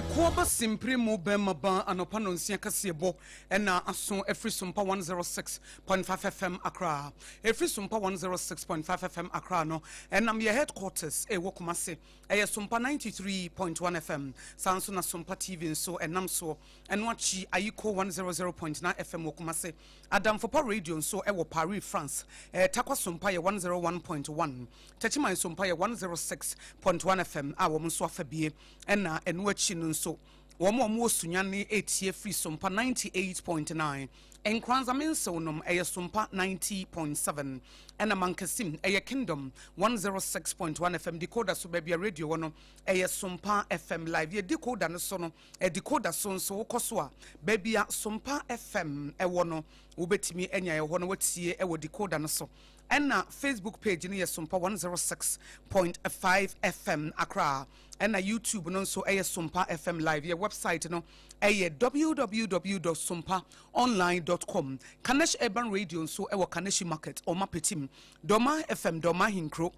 Ɛkoɔ ba simpire mu bɛmma baa anɔpa nɔnsia kaseɛbɔ ɛna aso ɛfiri sompa 106.5 fm akra ɛfiri sompa 106.5 fm akra no ɛnam yɛ headquarters ɛwɔ kumase ɛyɛ sompa 93.1 fm saa nso na sompa tv nso ɛnam soɔ Ɛno akyi, Ayiko 100.9 FM wɔ Kumase, Adamfopa Radio nso wɔ Paris, France, eh, Tarkwa so mpa yɛ 101.1, Techiman so mpa yɛ 106.1 FM a wɔn nso afa bie. Ɛna ɛno akyi no nso, wɔn a wɔwɔ Sunyane etie firi so mpa 98.9, Nkranza Mensew nom ɛyɛ so mpa 90.7, ɛna Mankasim ɛyɛ Kingdom 106.1 FM, Decoder so baabi a radio wɔ no ɛyɛ so mpa FM live. Yɛ decoder no so no, Decoder so nso, wokɔ so a, baabi a Sompa FM wɔ no, wobɛtumi anya ɛhɔ na watie wɔ decoder no so. Ɛna Facebook page no yɛ Sompa 106.5 FM Accra. Ɛna YouTube no nso ɛyɛ Sompa FM Live. Yɛ website no ɛyɛ www.sompaonline.com. Kanesh Urban Radio nso ɛwɔ Kaneshi Market, Ɔma Petim, Dɔma FM, Dɔma Hinkro.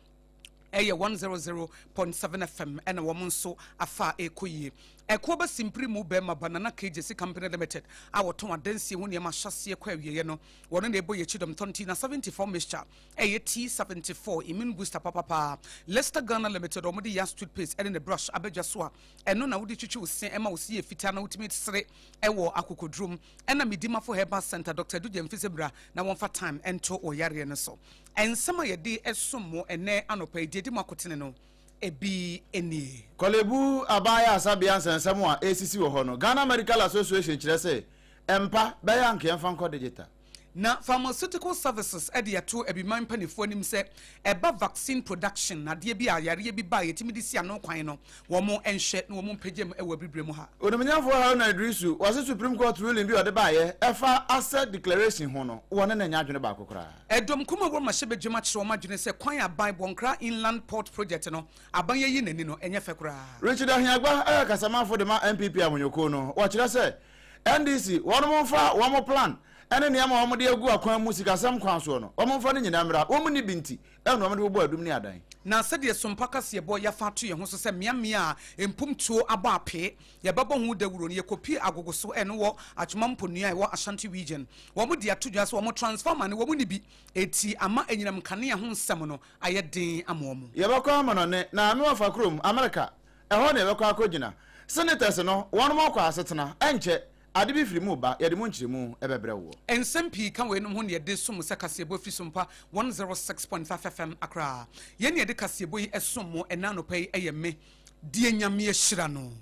ɛyɛ one zero zero point seven FM ɛna wɔn nso afa a ɛrekɔ yie. Ɛkoɔ ba simpiri mu bɛrima Banana Cages Company Limited a wɔtɔn adansie ho nneɛma ahyɛaseɛ kɔ awieɛ no wɔn na ɛbɔ yɛn akyi dɔm tɔn tea na seventy four mixture ɛyɛ tea seventy four immune booster papapaa Lester Ghana Limited wɔn de yas toothpaste ɛne ne brush abadwa so a ɛno na wode twitwi wo se ɛma wo se yɛ fitaa na wotumi sere ɛwɔ akokodurom ɛna medimafo herbal center Dr. Dugye mfisɛ bra na wɔmfa time ɛnto wɔ yareɛ no so Nsɛm a yɛde som mo ɛnnɛ anɔpa yi, deɛ ɛde mo akotene no, ebi nie. Korle Bu Aban Yɛ Asabea Nsɛnsɛm a Ɛresisi Wɔ Hɔ No, Ghana Medical Association kyerɛ sɛ ɛmpa, bɛyɛ anka yɛmfa nkɔ digital. Na Pharmaceutical Services de ato abiman mpanimfoɔ anim sɛ ɛba vaccine production, adeɛ bi a yareɛ bi ba a yɛtumi de si ano kwan no, wɔnhwɛ na wɔmpagya mu wɔ abiribirɛ mu ha. Onimnyɛfoɔ Haruna Iddrisu, wɔse Supreme Court ruling bi a ɔde baeɛ ɛfa asset declaration ho no, wɔne no nyɛ adwene baako koraa. Ɛdɔm kuw mu a wɔrema hyɛbadwam akyerɛ wɔn adwene sɛ kwan a aban Bɔnkra Inland Port Project no aban ayi n'ani no nyɛ fɛ koraa. Richard Ahiagba a yɛ kasamafo de ma NPP ahonyɔkuo no wɔkyerɛ sɛ NDC wɔnom mfa wɔn plan ne nneɛma a wɔn de agu akwan mu sikasɛm kwan soɔ no wɔn mfa no nyinaa mmra wɔn nni bi nti na wɔn de bobɔ adum ne adan. Na sɛdeɛ sompa kaseɛbɔ yɛafa ato yɛn ho so sɛ mmeammea a mpomtuo abɔ apee Yɛbɛbɔ ho dawuro no, yɛkɔpie agogo so ɛno wɔ Atwoma Mponua a ɛwɔ Ashanti Region. Wɔde ato dwa sɛ wɔn transformer no wɔn nni bi, eti ama anyinam nkanea ho nsɛm no ayɛ den ama wɔn. Yɛbɛkɔ amanɔne na ano afa kurom, Amerika, ɛhɔ na yɛbɛkɔ akɔgyina. Senators no wɔn ɔkwa asetena, ɛnkyɛ ade bi firi mu reba, yɛde mu nkyerɛmu bɛbrɛ woɔ. Nsɛm pii ka weinom ho na yɛde som mo sɛ kaseɛbɔ firi Sompa 106.5 FM Accra. Yɛn na yɛde kaseɛbɔ yi som mo ɛnnɛ anɔpa yi yɛ me, Deɛ Nyame ahyira no.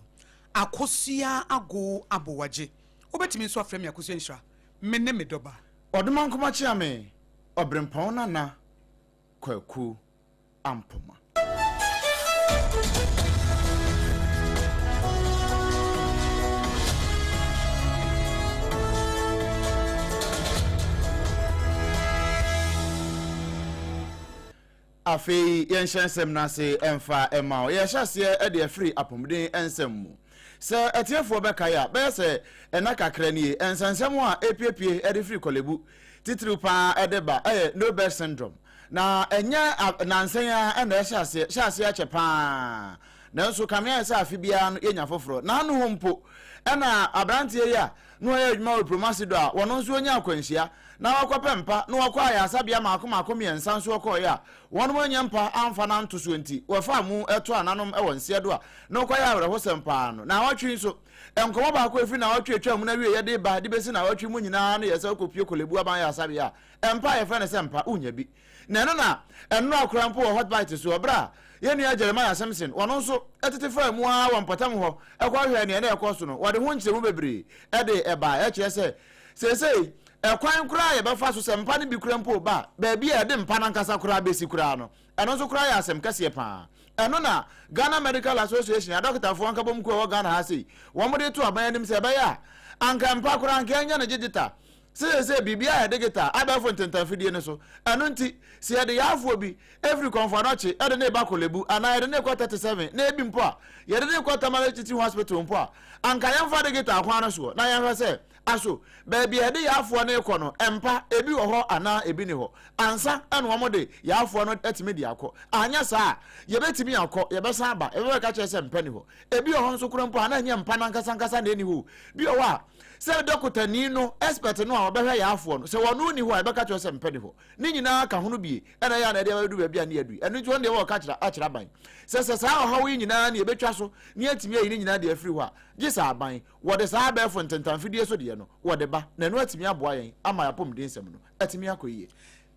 Akosua Ago Abowagye Wobɛtumi nso afrɛ me Akosua Nhyira Me ne me dɔba. Ɔdomankoma Kyeame Ɔberempɔn Nana Kwaku Ampoma. Afei yɛnhyɛ nsɛm no ase mfa mma wo. Yɛhyɛ aseɛ de afiri apɔmuden nsɛm mu. Sɛ atiefoɔ bɛkae a, bɛyɛ sɛ nna kakra nie, nsɛnsɛm a ɛrepiepie de firi Korle Bu, titiriw pa ara de ba yɛ No Bed Syndrome. Na ɛnyɛ nnansa yi ara na ɛhyɛ aseɛ, ɛhyɛ aseɛ akyɛ pa ara. Nanso kame ayɛ sɛ afe biara no yɛnya foforɔ. N'ano hɔ mpo na aberanteɛ yi a na ɔyɛ adwuma wɔ Promasi do a, wɔno nso onyaa akwanhyia na ɔakɔpɛ mpa na wɔkɔɔ ayarsabea maako maako miɛnsa nso ɔkɔɔe a wɔnom annya mpa ammfa no annto so ntsi wɔfaa mu too ananom wɔ nseɛ do a na ɔkɔyɛ awerɛhosɛm paa no. Naawɔtwe yi nso, nkɔmbɔ baako a efiri naawɔtwe a etwaa mu no awieɛ de reba de besi naawɔtwe mu nyinaa ne yɛsɛ ɔkɔpue Korle Bu Aban Ayarsabea a mpa a yɛfrɛ no sɛ mpa, wonnya bi. Na ɛno na ɛnora koraa mpo wɔ Hot Bites so, bere a yɛn nua Jeremiah Simpson, ɔno nso, tete faa mu ara wɔ mpɔtam hɔ kɔhwɛɛ nea na ɛrekɔ so no. Wɔde ho nkyerɛmu bebree de bae. Ɛkyerɛ sɛ, seesei, kwan koraa a yɛbɛfa so, sɛ mpa no bi koraa mpo ba, baabi a yɛde mpa no ankasa koraa besi koraa no, ɛno nso koraa yɛ asɛm kɛseɛ paa. Ɛno na Ghana Medical Association, adɔkotafoɔ nkabom kuo a ɛwɔ Ghana ha sei, wɔde to aban anim sɛ ɛbɛyɛ a, anka mpa koraa, anka yɛnyɛ no gyegye ta, Seesei biribiara yɛ digital, abɛɛfo ntentanfidie no so. Ɛno nti, sɛ yɛde yarefoɔ bi firi Kɔmfoanɔkye de no reba Korle Bu anaa yɛde no rekɔ 37 na ebi mpo a, yɛde no rekɔ Tamale Teaching Hospital mpo a, anka yɛmfa digital kwan no soɔ na yɛnhwɛ sɛ aso baabi a yɛde yarefoɔ no rekɔ no mpa ebi wɔ hɔ anaa ebi nni hɔ ansa na wɔde yarefoɔ no atumi de akɔ. Anyɛ saa a, yɛbɛtumi akɔ, yɛbɛsan aba, yɛbɛbɛka kyerɛ sɛ mpa nni hɔ. Ebi wɔ hɔ nso koraa mpo a na ɛnyɛ mpa no ankasankasa na ɛnni hɔ o. Bi wɔ hɔ a, Sɛ dɔkotani no, expert no a ɔbɛhwɛ yaafoɔ no, sɛ ɔno nni hɔ a, yɛbɛka kyerɛ no sɛ mpɛ nni hɔ. Ne nyinaa ka ho no bie na ɛyɛ a na ɛde aba bɛdu baabi a ne yɛadu yi. Ɛno nti wɔn deɛ wɔwɔ ka kyerɛ akyerɛ aban sɛ sɛ saa ɔhaw yi nyinaa na yɛbɛtwa so na yɛatumi ayi ne nyinaa de afiri hɔ a, gye sɛ aban, wɔde saa abɛɛfo ntentanfidie so deɛ no, wɔde ba, na ɛno atumi aboa yɛn ama yɛn apɔmudensɛm no atumi akɔ yie.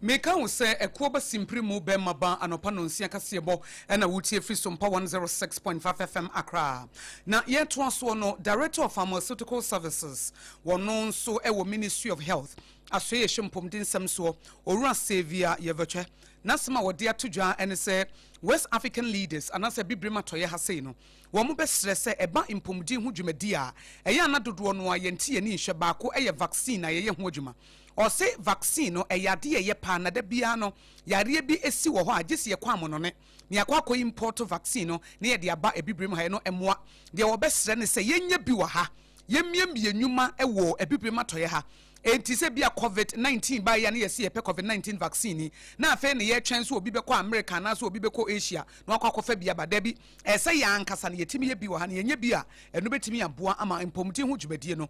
Meka wo sɛ ɛkoɔ ba simpire mu bɛmma ba anɔpa nɔnsia kaseɛbɔ na wotie firi sompa 106.5 FM Accra na yɛtoa soɔ no Director of Pharmaceutical Services wɔno nso wɔ Ministry of Health asoɛeɛ ɛhyɛ mpomdensɛm soɔ Owura Saviour Yɛvɛtwɛ n'asɛm a wɔde ato dwa ne sɛ West African leaders anaasɛ Abibirem atɔeɛ ha sei no wɔn bɛsrɛ sɛ ɛba mpomden ho dwumadie a ɛyɛ a na dodoɔ no a yɛnte yɛni nhyɛ baako yɛ vaccine a yɛyɛ ho adwuma Ɔse vaccine no ɛyɛ adeɛ a ɛyɛ paa na da biara no yareɛ bi si wɔ hɔ a gyesi yɛkɔ amonone na yɛakɔ akɔ import vaccine no na yɛde aba abibirem ha ɛno mmoa deɛ wɔbɛsrɛ ne sɛ yɛnyɛ bi wɔ ha yɛmmiamie nnwuma wɔ abibirem atɔeɛ ha enti sɛ bia covid 19 baeɛ a na yɛse yɛpɛ covid 19 vaccine yi na afei na yɛtwɛn sɛ obi bɛkɔ America anaasɛ obi bɛkɔ Asia na wakɔ akɔfa bi aba dabi ɛsɛ yɛn ankasa na yɛtumi yɛ bi wɔ ha na yɛnyɛ bi a ɛno bɛtumi aboa ama mpɔmuden ho dwumadie no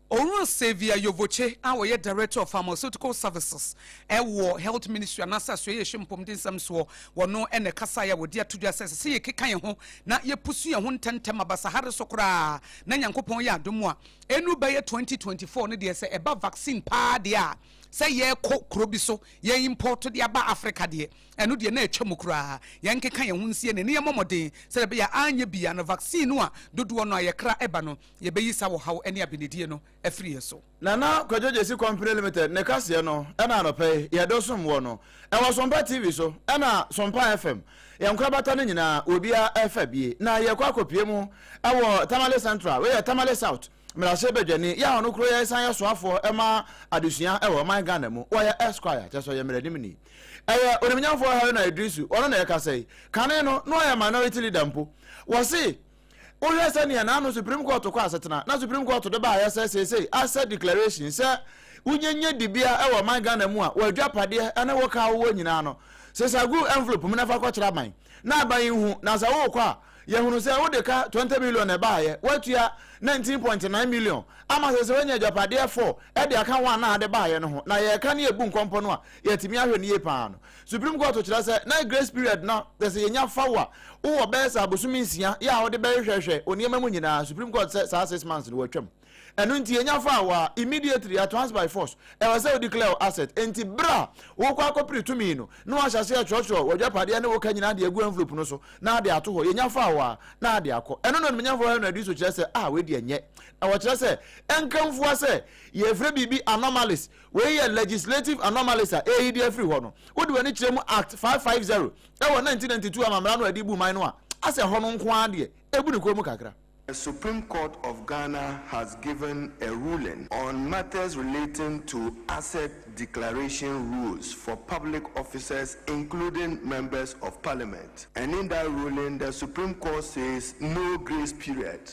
Owura Xavier Yovoce a ɔyɛ Director of Pharmaceutical Services wɔ Health Ministry anaasɛ Asoɛeɛhwɛ Mpomdensɛm soɔ, ɔno na ɛkasaeɛ a wɔde ato dwa sɛ ɛsɛ sɛ yɛkeka yɛn ho na yɛpusu yɛn ho ntɛmntɛm ma basahare so koraa na Nyankopɔn yɛ adom a ɛnnu bɛyɛ 2024 no deɛ sɛ ɛba vaccine paa deɛ a sɛ yɛrekɔ kuro bi so yɛ import de aba Africa deɛ ɛno deɛ na atwa mu koraa. Yɛnkeka yɛn ho nsie ne ne yɛmmɔ mmɔden sɛdeɛ ɛbɛyɛ a anyɛ bi a na vaccine no a dodoɔ no a yɛkra ɛba no yɛbɛyi saa ɔhaw ne abenedie no afiri yɛn so. Nana Kwadwo Gyesi Company Limited ne kaseɛ no na anɔpa yi yɛdɔ som wɔ no ɛwɔ Sompa TV so ɛna Sompa FM yɛn nkorabata no nyinaa wɔ bia ɛfa bie na yɛkɔ akɔpie mu ɛwɔ Tamale Central wei yɛ Tamale South Mmarahyɛ Badwani yɛ a ɔno koro yɛ san yɛ soafoɔ ɛma adesua ɛwɔ ɔman Ghana mu wɔyɛ Esquire kyɛ sɛ ɔyɛ mmaranimni ɛyɛ onimnyamfoɔ Haruna Idrisu ɔno na ɛkasa yi kane no na ɔyɛ minority leader mpo wɔse Wohwɛ sɛnea n'ano Supreme Court kɔ asetena na Supreme Court de baeɛ sɛ seesei asɛ declaration sɛ wonya nya dibea wɔ ɔman Ghana mu a w'adwapadeɛ ne wo ka wowɔ nyinaa no sesa gu envelope mu na fa kɔkyerɛ aban na aban yi hu na sɛ wokɔ a yɛhunu sɛ wode ka 20 million na ɛbaeɛ woatua 19.9 million ama sɛ sɛ woanya adwapadeɛ 4 de aka wɔn a na ade baeɛ no ho na yɛreka ne yɛbu nkɔmpɔ no a yɛatumi ahwɛ no yie paa no Supreme Court kyerɛ sɛ na grace period no yɛ sɛ yɛnya fa wo a wowɔ bɛyɛ sɛ abosome nsia yɛ a wode bɛhwehwɛhwɛ wo nneɛma mu nyinaa. Supreme Court sɛ saa six months no wɔatwam. Ɛno nti yɛnya faa wo a immediately at once by force ɛwɔ sɛ wo declare wo asset. Enti berɛ a worekɔ akɔpere tumi no na wɔahyɛ aseɛ kyerɛkyerɛ w'adwapadeɛ ne wo ka nyinaa de agu envelope no so na ade ato hɔ. Yɛnya faa wo a na ade akɔ. Ɛno na Animuonyamfoɔ Henry Adwiso kyerɛ sɛ ah wei deɛ nyɛ. Na wɔkyerɛ sɛ ɛnka mfua sɛ yɛrefrɛ biribi anomalies Wei yɛ legislative anomalies a ɛreyi deɛ afiri hɔ no. Wode w'ani kyerɛ mu Act five five zero wɔ nineteen ninety two amammara no a ɛde bu man no a, asɛ ɛhɔ no nko ara deɛ ɛbu ne kɔn mu kakra. The Supreme Court of Ghana has given a ruling on matters relating to asset declaration rules for public officers including members of parliament and in that ruling the Supreme Court says no grace period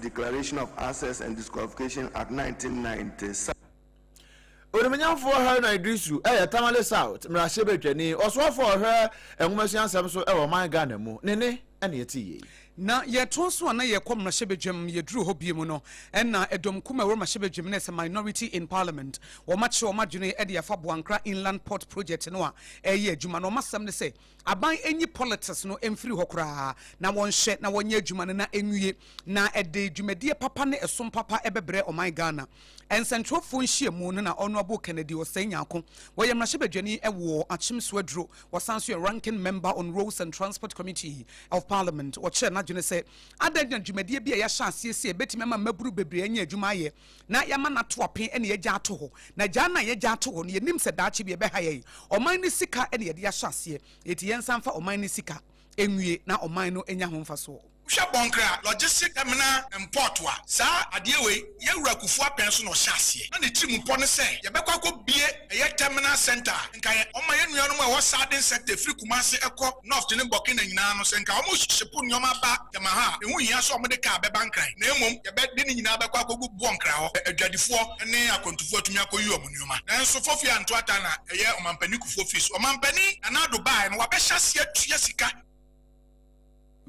Declaration of Access and Disqualification Act, 1990, sa. Onimnyamfoɔ Haruna Iddrisu yɛ Tamale South mmarahyɛbadwani, ɔsoafoɔ a ɔhwɛ nwomasua nsɛm so wɔ ɔman Ghana mu. Ne nne na yɛte yei. Na yɛtoa so a na yɛkɔ mmarahyɛbadwam, yɛduruu hɔ bio no na dɔm kumaa a ɛwɔ mmarahyɛbadwam no as a minority in parliament, wɔakyerɛ wɔn adwene de afa Boankra Inland Port Project no a ɛreyɛ adwuma no, wɔn asɛm ne sɛ, Aban nyi politics no mfiri hɔ koraa na wɔnhyɛ na wɔnyɛ adwuma no na ɛnwie na ɛde dwumadie papa ne ɛsom papa ɛbɛbrɛ ɔman Ghana. Nsɛntwerɛfoɔ nhyiamu no na Honourable Kennedy Osei Nyarko, wɔyɛ mmarahyɛbadwani wɔ Akyem so aduro, wɔsan nso yɛ Ranking Member on Roads and Transport Committee of Parliament, wɔkyerɛɛ n'adwene sɛ adɛn na dwumadie bi a yɛahyɛ aseɛ sei a ɛbɛtumi ama mmabunu bebree anya adwuma ayɛ, na yɛama no ato apee na yɛagya ato hɔ. Na gyaa no a yɛagya ato hɔ no, yɛnnim sɛ daakye bi ɛbɛha yɛn. Ɔman no sika na yɛde ahyɛ aseɛ, enti yɛnsan mfa ɔman no sika nwie na ɔman no anya ho mfasoɔ. Wohwɛ Bɔnkra Logistic Terminal and Port a, saa adeɛ wei, Yɛwura Kufuor Apɛn so na ɔhyɛ aseɛ. Na ne tirim pɔ ne sɛ, yɛbɛkɔ akɔbue ɛyɛ terminal centre a nka yɛ ɔma yɛ nuanom a ɛwɔ southern sector ɛfiri Kumasi ɛkɔ North ne Burkina nyinaa no sɛ nka wɔn shipo nnoɔma ba Temaha a ɛho hia sɛ wɔn de car bɛba Nkran na mmom yɛ bɛ de ne nyinaa bɛkɔ akɔgu Boɔ Nkran hɔ a adwadifoɔ ne akwantufoɔ atumi akɔyi wɔn nnoɔma nanso Fofia Ntoata na ɛyɛ Ɔmanpanin Kufuor Fils Ɔmanpanin Nana Addo baaɛ no wabɛhyɛ aseɛ atua sika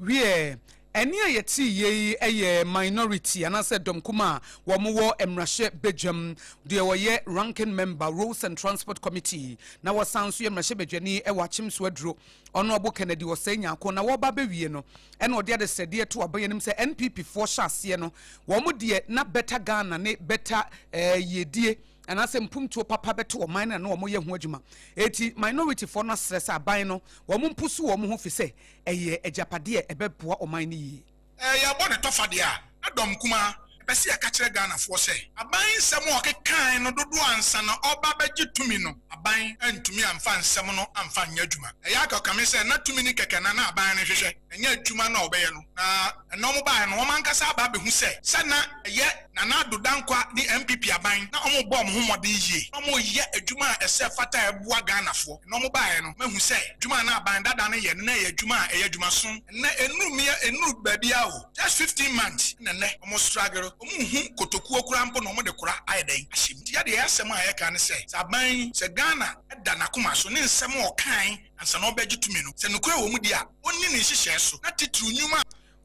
Wiɛ, ɛnne a yɛte yɛ yi yɛ minority anaasɛ dɔm kumaa a wɔn wɔ mmarahyɛ badwam, deɛ wɔyɛ ranking member roads and transport committee na wɔsan nso yɛ mmarahyɛ badwani wɔ akyemso aduro ɔnoɔbo kennedy ɔsɛe nyako na wɔba bɛ wie no ɛna ɔde adesrɛdeɛ to aba yɛnim sɛ npp foɔ hyɛ aseɛ no wɔn deɛ na better ghana ne better ɛɛ yiedie anaasɛ mpomtuo papa bɛto ɔman no a na wɔyɛ ho adwuma. Enti minorityfoɔ no asrɛ sɛ aban no wɔn mposo wɔn ho fisɛ ɛyɛ agyapadeɛ a ɛbɛboa ɔman no yie. Ɛɛ yɛbɔ ne tɔfa deɛ a na dɔm kumaa. Ɛpɛ sɛ yɛka kyerɛ Ghanafoɔ sɛ aban nsɛm a ɔkekaae no dodoɔ ansa na ɔreba abɛgye tumi no aban antumi amfa nsɛm no amfa anyɛ adwuma. Ɛyɛ a kame sɛ na tumi no kɛkɛ na na aban no hwehwɛ, ɛnyɛ adwuma no a wɔbɛyɛ no. Na ɛna wɔbaeɛ no wɔn ankasa aba abɛhu sɛ sɛ na ɛyɛ. Nana Addo Dankwa ne NPP aban na wɔn bɔɔ wɔn ho mmɔden yie na wɔn reyɛ adwuma a ɛsɛ fata a ɛboa Ghanafoɔ. Ɛna wɔn baeɛ no, mahu sɛ adwuma a na aban dada no yɛ no na ɛyɛ adwuma a ɛyɛ adwuma sonn. Ɛnɛ ɛnnuru mmea ɛnnuru baabiara o, just fifteen months na ɛnɛ wɔn struggle, wɔn nhu kotokuo koraa mpo na wɔn de kora ayɛ dɛn ahyɛ mu. Nti yɛ deɛ asɛm a yɛka ne sɛ, sɛ aban yi, sɛ Ghana da n'akoma so ne nsɛm a ɔkaae ansa na ɔrebɛgye tumi no, sɛ nokorɛ wɔ mu deɛ a, ɔnni ne nhyehyɛɛ so na titiriw nnwuma a.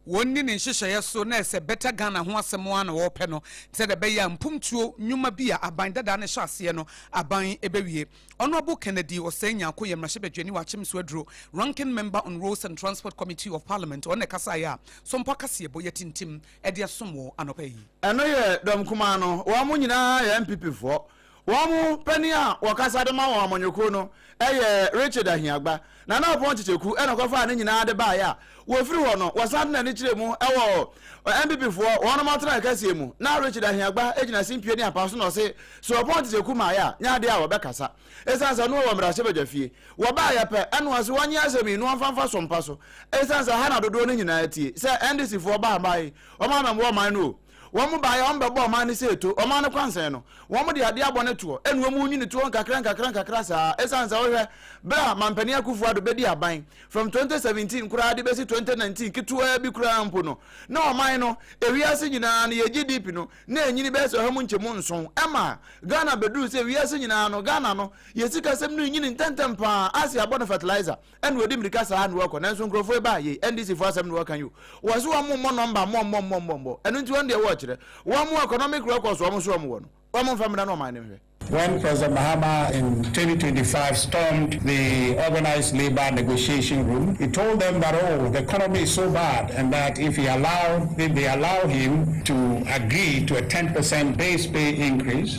Wɔnni ne nhyehyɛeɛ so na ɛsɛ Better Ghana ho asɛm ara na wɔrepɛ no sɛdeɛ ɛbɛyɛ a mpomtuo nnwuma bi a aban dadaa no hyɛ aseɛ no aban bɛwie. Honourable Kennedy Osei Nyarko yɛ mmarahyɛbadwani wɔ Akyem so aduro Ranking Member on Roads and Transport Committee of Parliament ɔno na ɛkasaeɛ a Sompo akaseɛbɔ yɛatintim de asom wɔ anɔpa yi. Ɛno yɛ dɔm kumaa no. Wɔn nyinaa yɛ NPP foɔ. Wɔn mu panin a wɔkasa de ma wɔn amanyɔkuo no yɛ Richard Ahiagba. Nana Ɔpɔn Kyekyɛku na ɔkɔfaa ne nyinaa de baeɛ a wɔfiri hɔ no wɔsan de n'ani kyerɛɛ mu wɔ NPP foɔ wɔn atenaeɛ kɛseɛ mu. Na Richard Ahiagba gyina simpie ne apa so na ɔse sɛ Ɔpɔn Kyekyɛku maeɛ a nyɛ adeɛ a wɔbɛkasa ɛsiane sɛ ɔno ɔwɔ mmarahyɛbadwafie. Wɔbaeɛ pɛ na ɔse wɔnyɛ asɛm yi na wɔmfa mfasoɔ mpa so ɛsiane sɛ ha na dodoɔ no nyinaa tie sɛ NDC foɔ baa mmaa yi wɔn amɛmmoa ɔman no o. Wɔn baeɛ a wɔbɛbɔ ɔman no sɛ ɛto, ɔman no kwansɛn no, wɔde adeɛ abɔ no toɔ, ɛna wɔn nwini toɔ nkakra nkakra nkakra saa, ɛsiane sɛ wohwɛ, berɛ a Mampanin Akuffo Addo bɛdi aban, from 2017 koraa de bɛsi 2019 ketewaa bi koraa mpo no, na ɔman no, ewiase nyinaa no, yɛ GDP no, na ɛnyini bɛyɛ sɛ ɔha mu nkyɛmu nson, ɛma Ghana bɛduru sɛ wiase nyinaa no, Ghana no, yɛ sikasɛm no renyini ntɛntɛm pa ara, ase abɔ no fertilizer. Ɛna ɔdi mmirika saa na ɔkɔ nanso nkurɔfoɔ yi baa yei NDC foɔ asɛm na wɔka yi o. Wɔ se wɔn mmɔ nɔmba mmɔ mmɔ mmɔ mmɔ mmɔ ɛno nti wɔn deɛ wɔkyerɛ wɔn economic records wɔn nso wɔn wɔ no wɔn mfa mmra na ɔman no nhwɛ. When President Mahama in twenty twenty five stormed the Organised Labour Negotiation Room, he told them that oh, the economy is so bad and that if he allow, if they allow him to agree to a ten percent base pay increase,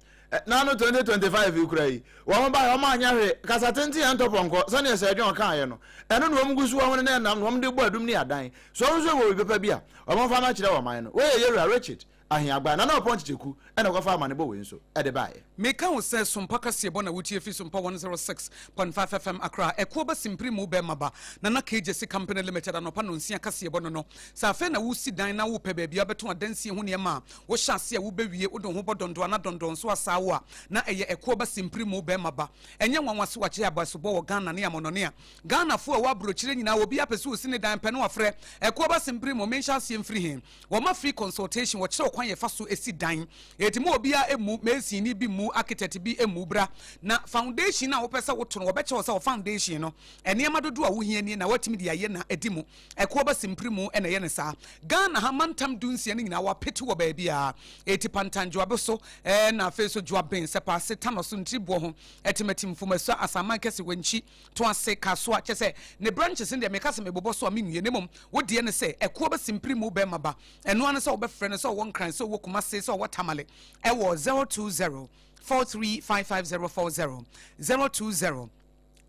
na no 2025 yi kora yi wɔn baeɛ wɔn anyɛ hwee kasa tenten yɛn ntɔpɔnkɔ sɛdeɛ sɛ ɛdwe ɔkaeɛ no ɛno na wɔn gu so wɔn ne ɛnam na wɔn de bɔ adum ne adan so wɔn nso wɔ obi papa bi a wɔn fa ma kyerɛ wɔn man no wɔyɛ yɛwura Richard Ahiagba na na ɔpɔn kyekyɛku ɛna ɔkɔfa amanebɔ wei nso ɛde baeɛ. Meka wo sɛ Sompa kaseɛbɔ na wotie fi Sompa 106.5 FM Accra ɛkoɔ ba simpiri mu bɛɛma ba Nana KJC Company Limited anɔpa nonsia kaseɛbɔ no no sɛ afei na wosi dan na wopɛ baabi a wobɛto adansie ho nneɛma a Wohyɛ ase a wubewie, wode wo ho bɔ dɔndɔana dɔndɔnso asaawa a na ɛyɛ ɛko ba simpirimoo bɛrima ba. Ɛnyɛ nwanwa sɛ wɔakyɛ abasobɔ wɔ Ghana ne amɔnnɔne a Ghanafo a wɔwɔ aburokyire nyinaa obiara pɛ sɛ osi ne dan pɛ na wafrɛ ɛko ba simpirimoo. Menhyɛ aseɛ mfiri he? Wɔma free consultation, wɔkyerɛ wo kwan a yɛfa so si dan. Enti mo wɔ biara mmu, masonni bi mmu, architect bi mmu. Bra na foundation no a wopɛ sɛ woto no wɔbɛkyerɛ wo sɛ wɔ foundation no nneɛma dodoɔ a wohia nie na woatumi de ayɛ na adi mu. Ɛkoɔ ba simpirimu na ɛyɛ no saa. Ghana ha mantam du nsia no nyinaa wɔapete wɔ baabiara. Eti Pantan Dwoabe so na afei nso Dwoaben, Sɛpaase, Tanɔ so, Ntiriboɔ ho, Ɛtemati, Mfomasua, Asanman Kɛse, Wankyi, Toase, Kasoa, kyerɛ sɛ ne branches no deɛ meka sɛ mebobɔ so a menwie na mmom wo deɛ ne sɛ Ɛkoɔ ba simpirimu bɛrima ba. Ɛno ara ne sɛ wobɛfrɛ no sɛ ɔwɔ Nkran, sɛ ɔwɔ Kumase, sɛ ɔwɔ Tamale ɛwɔ zero two zero four three five five zero four zero zero two zero.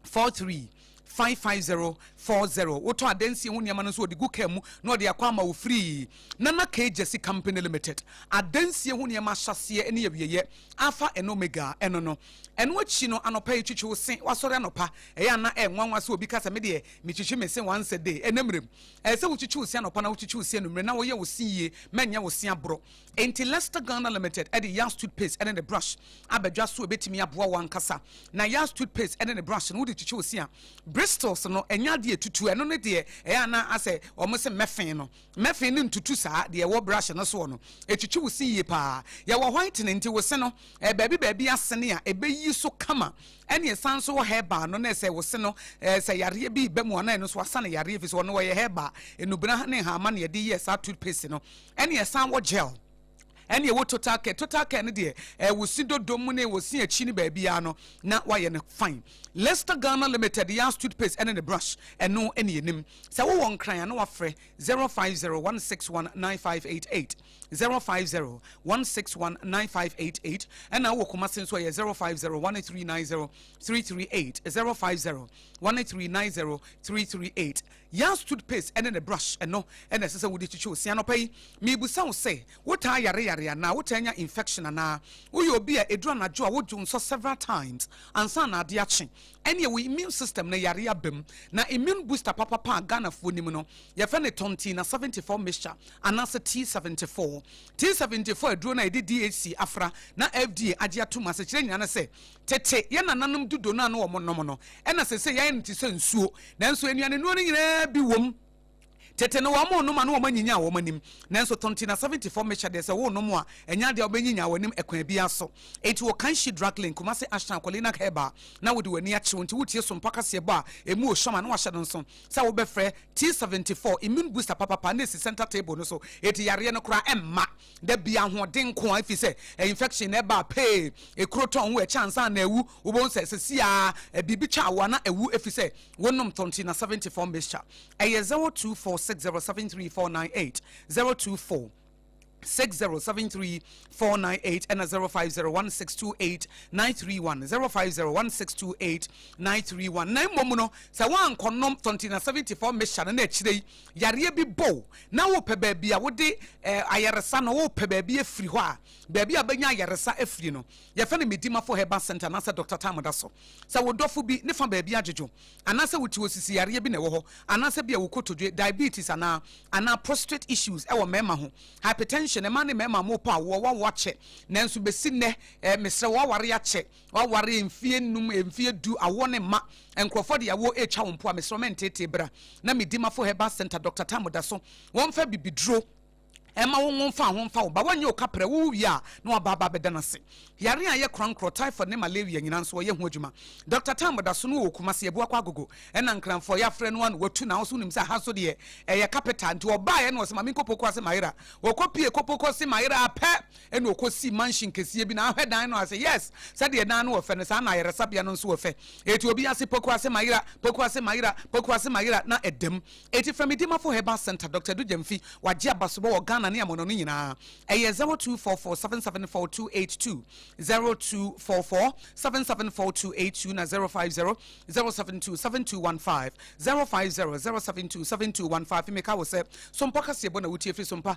four three five five zero four zero wotɔ adansie ho nneɛma no nso wɔde gu kaa mu na wɔde akɔ ama wo firii nana k jesse company limited adansie ho nneɛma ahyɛseɛ ne awieeɛ alpha and omega ɛno no ɛno akyi no anɔpa yi twitwi wo se wasɔre anɔpa ɛyɛ ana ɛnwanwa sɛ obi ka sɛ medeɛ metwitwi me se once a day ɛnɛ mmerɛm ɛyɛ sɛ wotwitwi wo se anɔpa na wotwitwi wo se anummerɛ na woyɛ wo se yie mɛnyɛ wo se aborɔ Enti Lester Ghana Limited de Yas Toothpaste ne ne brush aba dwa so a ebetumi aboa wo ankasa. Na Yas Toothpaste ne ne brush no, wode twitwi wo se a, bristles no, ɛnyɛ ade a etutu. Ɛno ne deɛ ɛyɛ a na asɛ wɔse mmɛfee no. Mmɛfee no ntutu saa, deɛ ɛwɔ brush no soɔ no, etwitwi wo se yie paa. Yɛwɔ whitening, nti wo se no, ɛyɛ baabi baabi asene a ebeyi so kama. Ɛne ɛsan nso wɔ herbal no, na ɛsɛ wo se no, sɛ yareɛ bi reba mu a, na ɛno nso asane yareɛ, efisɛ ɔno wɔyɛ herbal, nnubena ne nhahamma na yɛde yɛɛ saa toothpaste no. ɛne ɛsan wɔ gel ɛne ɛwɔ total care total care no deɛ ɛwɔ si dodo mu ne ɛwɔ si akyi ne baabiara no na wayɛ no fine lester ghana limited yɛ as toothpaste ɛne ne brush ɛno ɛne yɛnim sɛ wowɔ nkran a na wafrɛ 0501619588 0501619588 ɛna wowɔ kɔma se nso ɛyɛ 0501390338 0501390338 Yas toothpaste ne ne brush no na ɛsɛ sɛ wode twitwi wo se anɔpa yi. Mebisa wo sɛ, wotaa yare yare anaa wotaa nya infection anaa woyɛ obi a ɛduru anadwo a wodwo nsɔ several times ansa na ade akye? Ɛneɛ wo immune system no yare aba mu. Na immune booster papapa a Ghanafoɔ nim no, yɛfrɛ no Tontina 74 mixture anaasɛ T74. T74 aduro no a yɛde DHC afra na FDA agye atom asekyerɛ nyinaa ne sɛ Tete, yɛn nananom dudo no a na wɔnom no, ɛnna seesei yɛayɛ no te sɛ nsuo. Nanso nnuanennuro no nyinaa bi wom. Tete no, wɔnom ma na wɔanyinyan wɔn anim. Nanso Tontina 70 fam mehyɛ deɛ sɛ wonom a, ɛnyɛ adeɛ a wobɛnyinyan w'anim ɛkwan biara so. Enti wɔ Kanshi Drug Lane, Kumasi Ashton Aqualinak Herb a, na wode w'ani akye wo nti wotie sompo akaseɛbɔ a ɛmu wɔ shama na wahyɛ no nso sɛ wobɛfrɛ T74 Immune Booster papapa na ɛsi center table no so. Enti yareɛ no koraa mma. da bi ahoɔden nko a ɛfiri sɛ infection na ɛbaa pee ekuro tɔn wo ɛkyɛ ansa na ewu wobɛhu sɛ sɛ si a biribi twa awoa na ewu ɛfiri sɛ wonom tɔnti na 74 mixture ɛyɛ 0246073498 024 6073498 and 0501628931 0501628931 na mmom no sɛ woankɔnom 20 na 74 mixture no na akyire yi yareɛ bi bɔ wo na wopɛ baabi a wode eh, ayaresa no wopɛ baabi afiri hɔ a baabi a wobɛnya ayaresa afiri no yɛfɛ no medimafo herbal center anaasɛ dɔkta tam da so sɛ wo dɔfo bi ne fa baabi adwodwo anaasɛ wote wɔ sisi yareɛ bi na ɛwɔ hɔ anaasɛ bi a wokotodwe diabetes anaa anaa prostrate issues ɛwɔ mmarima ho hypertension ɛma ne mmarima mo pɔ awoɔ wawo akyɛ nanso bɛsi nnɛ eh, mesrɛ wo aware akyɛ W'aware mfie nnum, mfie du, awoɔ ne mma. Nkurɔfoɔ de awoɔ retwa wo mpo a, mesrɛ wo mɛnteetee bra na me Dimafo Herbal Centre Doctor Tamu da so. Wɔmfa bibiduro mma wo nwo mfa ho mfa wo ba. Wɔnyɛ wo kaprɛ, wowo wie a na waba aba abɛda no ase. Yareɛ a ɛyɛ korankorɔ, typhoid ne malaria nyinaa nso wɔyɛ ho adwuma. Doctor Tamu da so no wɔ Kumasi, Abuakwa Agogo ɛna Nkranfoɔ. Yɛafrɛ no a na watu nanso wonim sɛ ha so deɛ ɛyɛ capital nti ɔbaeɛ na ɔse ma menkɔ Poku ase mayera. Ɔkɔpue Poku ase mayera pɛ ɛna ɔkɔsii mansion kɛseɛ bi na ahwɛ dan no ase yes sɛdeɛ dan no wɔ fɛ no saa na ayaresabea no nso wɔ fɛ ɛti obi ase poku ase mayera poku ase mayera poku ase mayera na ɛdam ɛti frɛ me dimafo herbal center dr dugyamfi wagye abasobɔ wɔ ghana ne amono no nyinaa ɛyɛ 0244774282 0244774282 na 0500727215 0500727215 meka wo sɛ sompa kaseɛbɔ na wotie firi sompa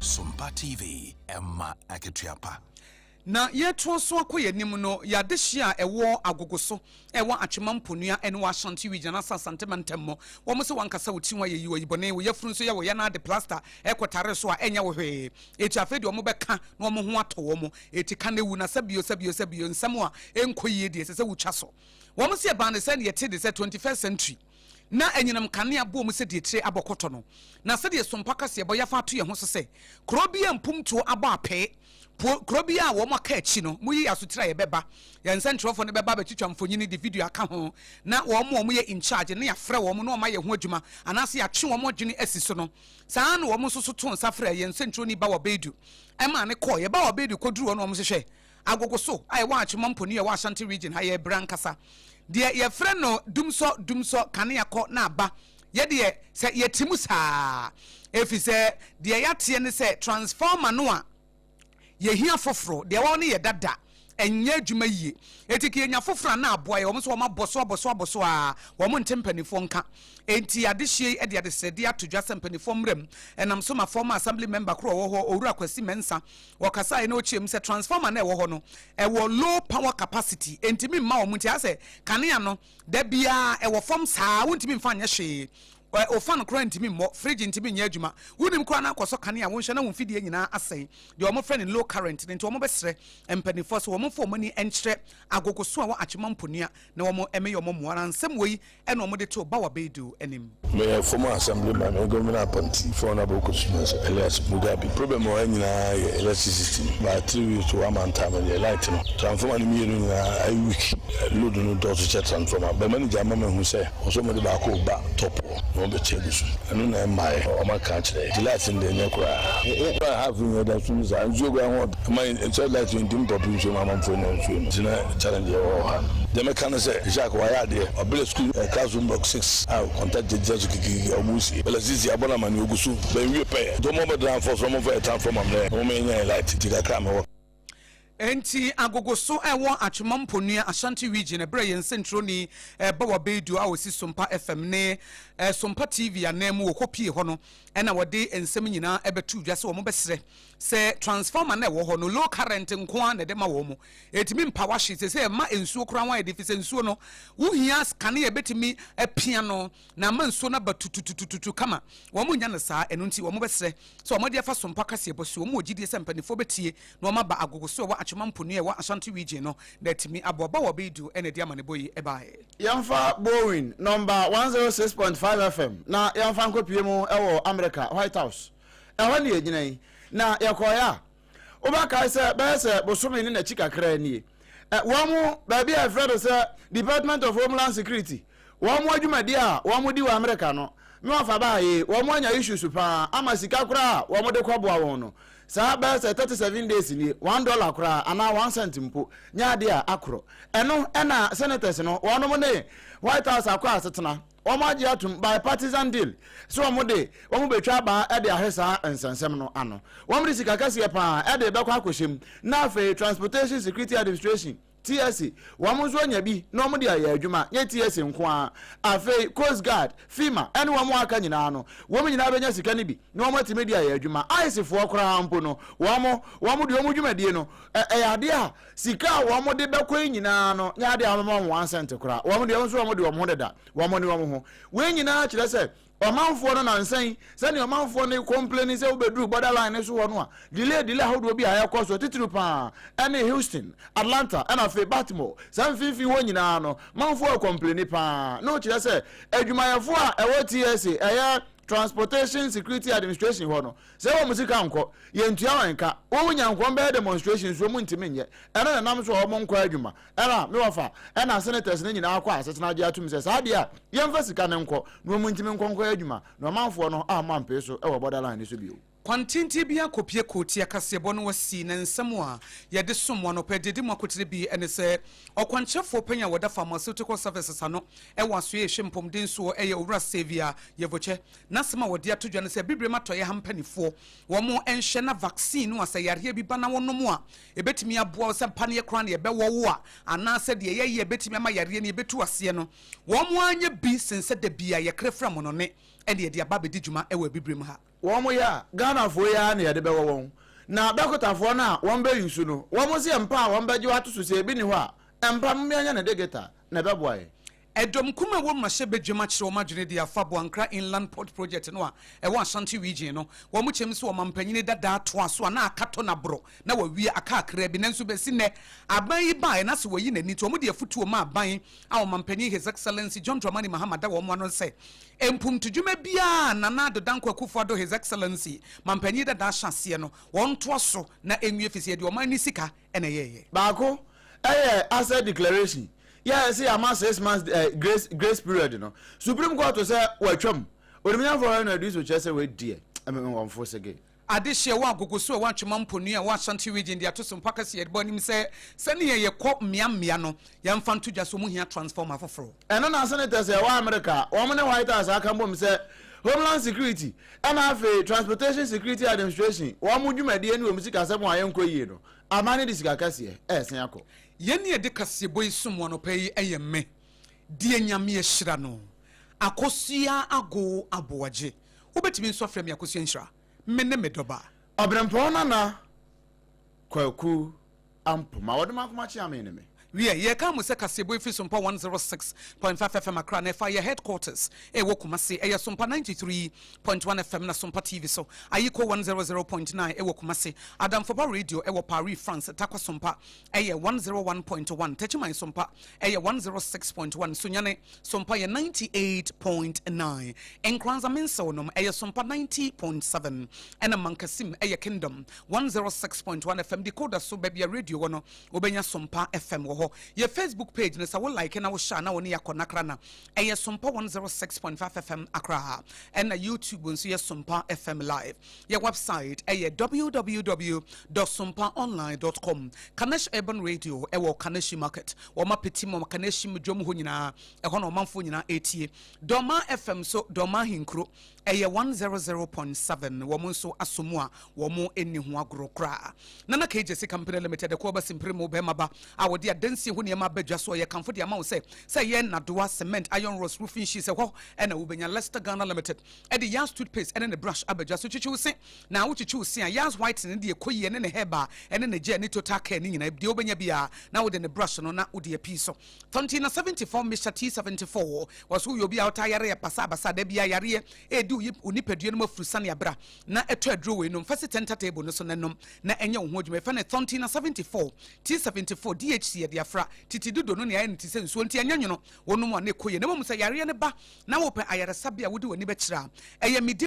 Sompa TV, ɛma akatua pa. Na yɛretoa so akɔ yɛn anim no, yɛn adehyeɛ a ɛwɔ agogo so ɛwɔ atwema mponua ɛne wɔ ashanti region asa asante mantam mu wɔn sɛ wankasa wo ti ho ayɛ yi wɔyi bɔne wo yafunu nso yɛ wɔyɛ no ade plaster ɛkɔ tare so a ɛnyɛ wo hwee eti afei deɛ wɔn bɛka na wɔn ho atɔ wɔn eti ka na ewu na sɛ bio sɛ bio sɛ bio nsɛm a ɛnkɔ yie deɛ ɛsɛ sɛ wotwa so wɔn sɛ ɛbaa ne sɛ deɛ ɛte de sɛ 21st century na anyinam nkanea bɔ mu sɛ deɛ tire abɔ kɔtɔ no, na sɛdeɛ sompa kaseɛ bɔ yɛafa ato yɛn ho so sɛ kuro biara mpumptuo abɔ apee po kuro biara a wɔn aka akyi no, moyi yɛn asotire a yɛbɛba. Yɛn nsɛntwerɛfoɔ no bɛba abɛtwitwa mfonini de video aka ho, na wɔn a wɔyɛ in charge no yɛafrɛ wɔn na wɔayɛ ho adwuma anaasɛ yɛatwe wɔn adwene asi so no. Saa ara na wɔn nso so too nsa frɛɛ yɛn nsɛntwerɛni Bawa Beidu maa no kɔeɛ. Bawa Beidu kɔduruu hɔ na wɔhwehwɛɛ. Agogoso a ɛwɔ Achimom po no yɛ wɔ Ashanti Region ha, yɛ bere ankasa. Deɛ yɛfrɛ no dumsɔ dumsɔ kanea kɔ na aba, yɛ deɛ sɛ yɛte mu saa efisɛ deɛ yɛateɛ ne sɛ transformer no a yɛhia foforo, deɛ ɛwɔ no yɛ dada, ɛnyɛ adwuma yie enti ka yɛnya foforo a na aboa yɛn, wɔn nso wɔabɔ so abɔ so abɔ so ara, wɔn nte mpanimfoɔ nka. Enti adehyeɛ yi de adesrɛdeɛ ato dwa sɛ mpanimfoɔ mmra mu, ɛnam so ma former Assembly Member koro a ɔwɔ hɔ, Owura Kwasi Mensah, wɔkasaeɛ na ɔkyeam sɛ transformer na ɛwɔ hɔ no ɛwɔ low power capacity ɛntumi mma wɔn nti asɛ kanea no da biara ɛwɔ fam saa wontumi mfa nyɛ hwee ofa no koraa ntumi mmɔ fridge ntumi nyɛ adwuma wonim koraa no akɔsɔ kanea wonhyɛ na wo mfidie nyinaa asɛe deɛ wɔn frɛ no low current no nti wɔn bɛsrɛ mpanimfoɔ so wɔn mfa wɔn ani nkyerɛ agogo so a wɔ atwema mponua na wɔn ɛmɛ yɛ wɔn mmoa na nsɛm wɔ yi ɛna wɔde too Bawa Baidu anim. Meyɛ former assemblyman wɔ government appointee for Honourable Kosu-Mensah Elias Mugabi. Problem wɔ ha nyinaa yɛ electricity no. By three weeks to one month time deɛ light no, transformer no mmienu nyinaa ayɛ weak. Load no dɔɔso kyɛ transformer. Bɛ manager ama mahu sɛ wɔ sɛ wɔde baako reba top hɔ na wɔbɛkyɛ agu so. Ɛno na ɛmmaeɛ. Wɔaka akyerɛ. Nti light no deɛ ɛnyɛ koraa. One and a half year da so no saa. Nsuo koraa ho ɔdɔ. Ɛma yɛkyɛ life yɛ ntim pɔpi nsuo mu amanfoɔ anya nsuo no nti na challenge yɛ wɔ ha no. Deɛ mɛka ne sɛ Jacques wayɛ adeɛ ɔbrɛ school no classroom block six a contact gyinagyina so kikirikiri a wɔn sie El Azizi abɔ no amaneɛ ɔgu so but nwie pɛɛ nti wɔn ɔbɛdɔ anfɔ so na wɔn fa yɛ transformer mmerɛ na wɔn anya yɛ light nti kakra a mewɔ Enti agogoso a ɛwɔ Atwema Mponua Ashanti Region ɛbrɛ yɛn nsɛnkyerɛwni ba wa Baidu a ɔsi Sompa FM ne Sompa TV ananmu wɔ Kopie hɔ no na wɔde nsɛm nyinaa bɛto dwa sɛ wɔbɛsrɛ Sɛ transformer no a ɛwɔ hɔ no low current nko ara na ɛde ma wɔn, ɛtumi mpa washing, seesei ɛma nsuo koraa ho ayɛ den efisɛ nsuo no wohia kanea a ɛbɛtumi apia no na ama nsuo no aba tututututu kama. Wɔn nnya no saa, ɛno nti wɔn bɛsrɛ sɛ wɔn de afa sompo akaseɛ bɔ so. Wɔn wɔ gyidie sɛ mpaninfoɔ bɛtie na wɔn aba agogo so ɛwɔ Achoma mponua a ɛwɔ Ashanti region no na atumi aboa. Bawoo Abeidu na ɛde amanebɔ yi baeɛ. Yɛmfa Boeing nɔmba one zero six point five FM na yɛmfa nkɔpue mu wɔ Amerika White House. Ɛhɔ na yɛgyina yi, na yɛkɔeɛ a, wobɛkae sɛ bɛyɛ sɛ bosome ne n'akyi kakra nie. Wɔn baabi a yɛfrɛ no sɛ Department of Homeland Security, wɔn adwumadie a wɔdi wɔ Amerika no, me wɔfa baa yi, wɔn anya issues paa ama sika koraa a wɔde kɔboa wɔn no, saa bɛyɛ sɛ thirty seven days nie, one dollar koraa anaa one cent mpo nyɛ adeɛ a akorɔ. Ɛno na Senators no, wɔnom ne White House akɔ asetena. Wɔagye atom bipartisan deal sɛ wɔde wɔn betwa abaa de ahwɛ saa nsɛnsɛm no ano. Wɔde sika kɛseɛ paa de bɛkɔ akɔhyɛ mu na afei Transportation Security Administration, TSA, wɔn nso anya bi na wɔde ayɛ adwuma. Nyɛ TSA nko ara, afei Coast Guard, FEMA ne wɔn a aka nyinaa no, wɔn nyinaa bɛnya sika no bi na wɔatumi de ayɛ adwuma. Icefoɔ koraa mpo no, wɔn wɔn deɛ wɔn dwumadie no, ɛyɛ adeɛ a Sika a wɔn de bɛkɔ yi nyinaa no nyɛ ade a wɔbɛma wɔn one cent koraa. Wɔn deɛ nso wɔn de wɔn ho deda, wɔn ne wɔn ho. Wei nyinaa kyerɛ sɛ ɔmanfoɔ no nansa yi, sɛdeɛ ɔmanfoɔ no complaini sɛ wobɛduru border line no so hɔ no a, delay delay ahodoɔ bi a ɛrekɔ soɔ, titiriw pa ara ɛne Houston, Atlanta, ɛna afei Baltimore, saa mfimfini hɔ nyinaa no, manfoɔ recomplaini pa ara. Na wokyerɛ sɛ adwumayɛfoɔ a ɛwɔ TSA, ɛyɛ Transportation Security Administration hɔ no, Sɛ wɔn sika nkɔ, yɛntua wɔn ka. Wo wo nya nkɔ wɔn bɛyɛ demonstration nso wɔn ntumi nyɛ. Ɛno na ɛnam so a wɔn nkɔ adwuma. Ɛna, me wɔfa, ɛna senators no nyinaa kɔ asetena gye atom sɛ saa deɛ a, yɛmfa sika no nkɔ na wɔn ntumi nkɔ nkɔyɛ adwuma. Na ɔmanfoɔ no amma mpee so wɔ border line no so bio. Kwan tenten bi a kɔpie kootia kaseɛbɔ no wɔ sii ne nsa mu a yɛde som mo anɔpɛ de di mo akotire bi ne sɛ, Ɔkwankyerɛfoɔ panyin a wɔda Pharmaceutical Services ano wɔ Asoɛe Ehwe Mpomden soɔ yɛ Owura Xavier Yeboche. N'asɛm a wɔde ato dwa ne sɛ Bibirem Atɔeɛ ha mpaninfoɔ wɔn nhwɛ na vaccine no a sɛ yareɛ bi ba na wo nom a ɛbɛtumi aboa wo sɛ paneɛ koraa na yɛbɛwɔ wo a anaa sɛ deɛ yɛyɛ a ɛbɛtumi ama yareɛ no yɛbɛtu aseɛ no wɔn anyɛ bi sen sɛ da bi a yɛkra fira mono ne ɛne yɛde aba abɛdi dwuma wɔ Abibirem ha. Wɔn yɛ a Ghanafoɔ yi ara na yɛde bɛwɔ wɔn na dɔkotafoɔ no a wɔn bɛ use no wɔn nso yɛ mpa a wɔn bɛgye wo ato so sɛ ɛbi nni hɔ a ɛmpa momeɛnyɛ no digital na ɛbɛboa yɛn. Ɛdɔm kumaa wɔ mmrahyɛ badwam akyerɛ wɔn adwene de afa Boankra Inland Port Project no a ɛwɔ Ashanti Region no. Wɔn kyɛm sɛ ɔmampanin dadaa toaa so a na aka tɔ na boro na wɔawia aka akraa bi nanso bɛsi nnɛ aban yi baeɛ na sɛ wɔyi n'ani nti wɔn de afutuo ma aban a ɔmampanin His Excellency John Dramani Mahama da wɔn ano sɛ mpomtodwuma biara a Nana Addo Dankwa Akufo Addo His Excellency mampanin dadaa hyɛ aseɛ no wɔntoa so na ɛnwie ɛfiri sɛ yɛde ɔman no sika ɛna ɛyɛɛyɛ. Baako yɛ asset declaration, yɛɛ sɛ yɛama six months grace grace period no, Supreme Court sɛ watwam, Onimnyamfoɔ Henry Aduiso kyerɛ sɛ wei deɛ ɛmɛ me wɔmfo sege. Adehye a ɛwɔ Agogo so a ɛwɔ Atwema Mponua a ɛwɔ Ashanti Region de ato so mpo aka sɛ yɛde bɔ anim sɛ sɛnea yɛkɔ mmea mmea no yɛmfa nto dwa sɛ wɔn hia transformer foforo. Ɛno na Senators a ɛwɔ Amerika a wɔne White House aka bom sɛ Homeland Security Ɛna afei Transportation Security Administration wɔn dwumadie ne wɔn sikasɛm a ɛnkɔ yie no, aman no de sika kɛseɛ ɛɛsen akɔ. Yɛn ne yɛde kaseɛbɔ yi som wo anɔpa yi ɛyɛ me, deɛ Nyame ahyira no, Akosua Agow Aboagye. Wobɛtumi nso afrɛ me Akosua Nhyira. Me ne me dɔba. Ɔberempɔn Nana Kwaku. a mpo, ma wɔde m'akoma kye amee ne me. Wiɛ, yɛreka mo sɛ kaseɛbɔ yi firi Sompa 106.5 FM Accra na ɛfa yɛ headquarters a ɛwɔ Kumasi. Ɛyɛ Sompa 93.1 FM na Sompa TV so, Ayiko 100.9 ɛwɔ Kumasi, Adamfoba Radio ɛwɔ Paris, France, Tarkwa Sompa ɛyɛ 101.1, Techiman Sompa ɛyɛ 106.1, Sunyani Sompa yɛ 98.9, Nkoranza Mensew nom ɛyɛ Sompa 90.7 ɛna Mankasim ɛyɛ Kingdom one zero six point one fm decoder so baabi a radio wɔ no wobɛnya sompa fm wɔ hɔ yɛ facebook page no sɛ wo like na wohyɛ a na wɔne yɛakɔ nakra na ɛyɛ sompa one zero six point five fm akra ɛna youtube nso yɛ sompa fm live yɛ website ɛyɛ www sompa online dot com kanesh urban radio ɛwɔ kaneshi market wɔn apeti mu kaneshi mu dwom hɔ nyinaa ɛhɔ na ɔmanfoɔ nyinaa etie dɔma fm so dɔma hinkuro Ɛyɛ one zero zero point seven wɔn nso asɔ mu a wɔn nni ho agorɔ koraa. Nana KJC Company Limited, Ɛko Aba Simpirimu, Bɛrima Ba a wɔde adansie ho nneɛma aba dwa so a yɛkamfo de ama wo sɛ sɛ ɛyɛ nnadewa, cement, iron rods, roofing sheets, ɛhɔ na wobɛnya. Lester Ghana Limited de Yaz Toothpaste ne ne brush aba dwa so. Kyekye wo se na wokyekye wo se a, Yaz Whitening ne deɛ ɛkɔ yie ne ne herbal ne ne gel ne total care ne nyinaa, deɛ wobɛnya biara na wode ne brush no na wode apii so. Tɔnti na seventy four Mister T seventy four Wɔse woyɛ obi a wotaa yare yɛ basabasa da biaa yareɛ ɛɛdi wo yip wo nipadua no mu afuru sane abra na ɛtɔ aduro wei nom fasi center table no so na nom na ɛnyɛ wo ho adwuma yɛfrɛ no Tɔnti na seventy four T seventy four DHC yɛde afra titi dodo no nea ayɛ no te sɛ nsuo nti ɛnyɛ nwono wonom a na ɛkɔ yie na mmom sɛ yareɛ no ba na wopɛ ayaresabea a wode w'ani bɛkyerɛ a ɛyɛ medi